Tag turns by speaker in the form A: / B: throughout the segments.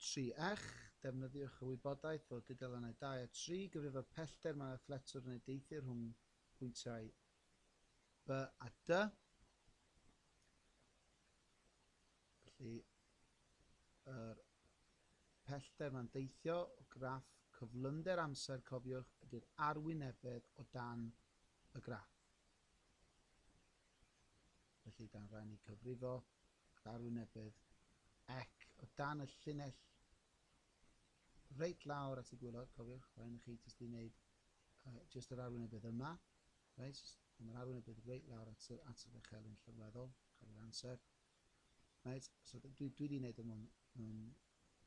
A: Tri ech, Defnyddiwch y wybodaeth o dudalennau dau a tri i gyfrifo pellter mae'r athletwr yn ei deithio rhwng pwyntiau B a D. Felly, yr pellter mae'n deithio o graff cyflymder amser, cofiwch, ydy'r arwynebedd o dan y graff. Felly, dan rhaid ni cyfrifo ac arwynebedd ac o dan y llinell reit lawr at y gwylod, cofiwch, rhaid ni chi jyst i wneud uh, jyst yr arwynebedd yma, reit, a mae'r arwynebedd reit lawr at, y, at yr echelyn llyrweddol, cofio'r amser. Reit, so dwi, dwi wedi gwneud y mwyn yn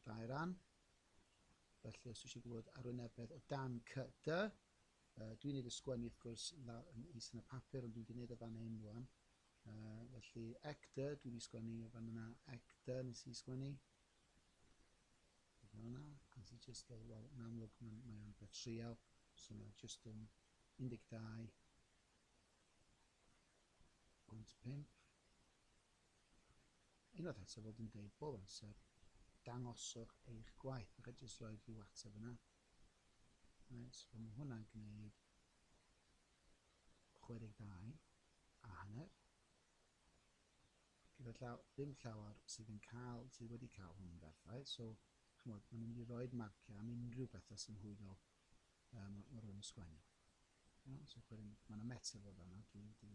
A: dau ran. Felly, os eisiau gwybod arwynebedd o dan cy dy, Yy dwi'n neud y sgwennu wrth gwrs lawr yn is yn y papur ond dwi'n di neud o fan hyn rwan. Yy felly ecdy dwi di sgwennu fan yna ecdy nes i sgwennu. Fel yna, nes i just fel, wel yn amlwg mae'n mae o'n beth trial, so mae just yn 12 pwynt 5. Unwaith eto fel dwi'n deud bob amser, dangoswch eich gwaith. Rhaid jyst rhoi rhyw ateb yna. Reit, wel mae hwnna'n gwneud 62 a hanner. Gyda llaw, ddim llawer sydd yn cael, sydd wedi cael hwn yn berffaith, so chymod, maen nhw'n mynd i roed marciau am unrhyw bethau sy'n hwylio um, o rhwng sgwennu. You know, so wedyn, mae yna metel o fanna, dwi wedi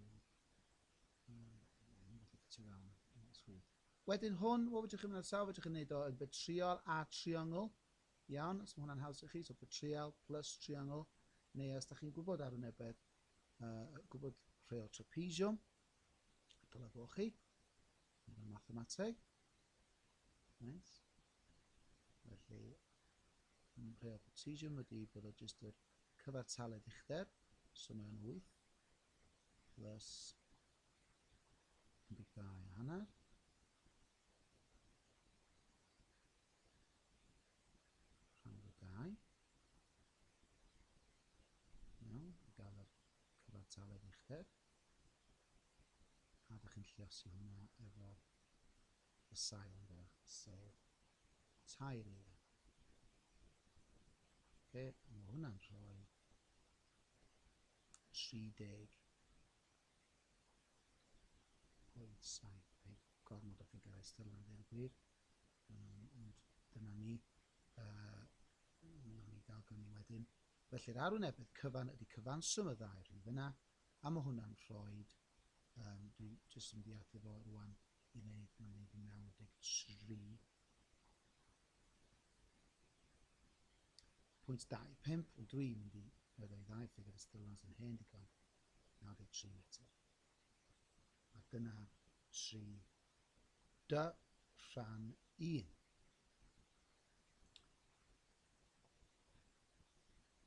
A: um, gallu ffitio fewn yn swydd. Wedyn hwn, what fedrwch chi'n mynd ar sawl, fedrwch chi'n neud o yn betriol a triongl, Iawn, os mae hwnna'n haws i chi, so for trial plus triangle, neu os da chi'n gwybod arwynebedd, uh, gwybod rhai o trapezium, dylai fo chi, yn y mathemateg. Nice. Felly, rhai o trapezium ydy bod o jyst yr cyfartaledd uchder, so mae'n 8, plus 12 a hanner. Rhan o dau. Iawn, i gael yr cyfartaledd uchder. A da chi'n lliosi hwnna efo y sail yn dda, sef tair eile. Oce, a mae hwnna'n rhoi 30 Pwysau heb gormod o ffigyrau ystyrlon a dweud y gwir, um, ond dyna ni. Uh, Nawn ni gael gynnu wedyn. Felly'r arwynebedd cyfan ydy cyfanswm y ddau rhif yna, a mae hwnna'n rhoi, um, dwi jyst yn mynd i fo rwan i wneud, mae'n wneud 93. Pwynt 25, ond dwi'n mynd i meddwl i ddau ffigr ystyrlon sy'n hen digon, nawr i tri eto. A dyna tri dy rhan un.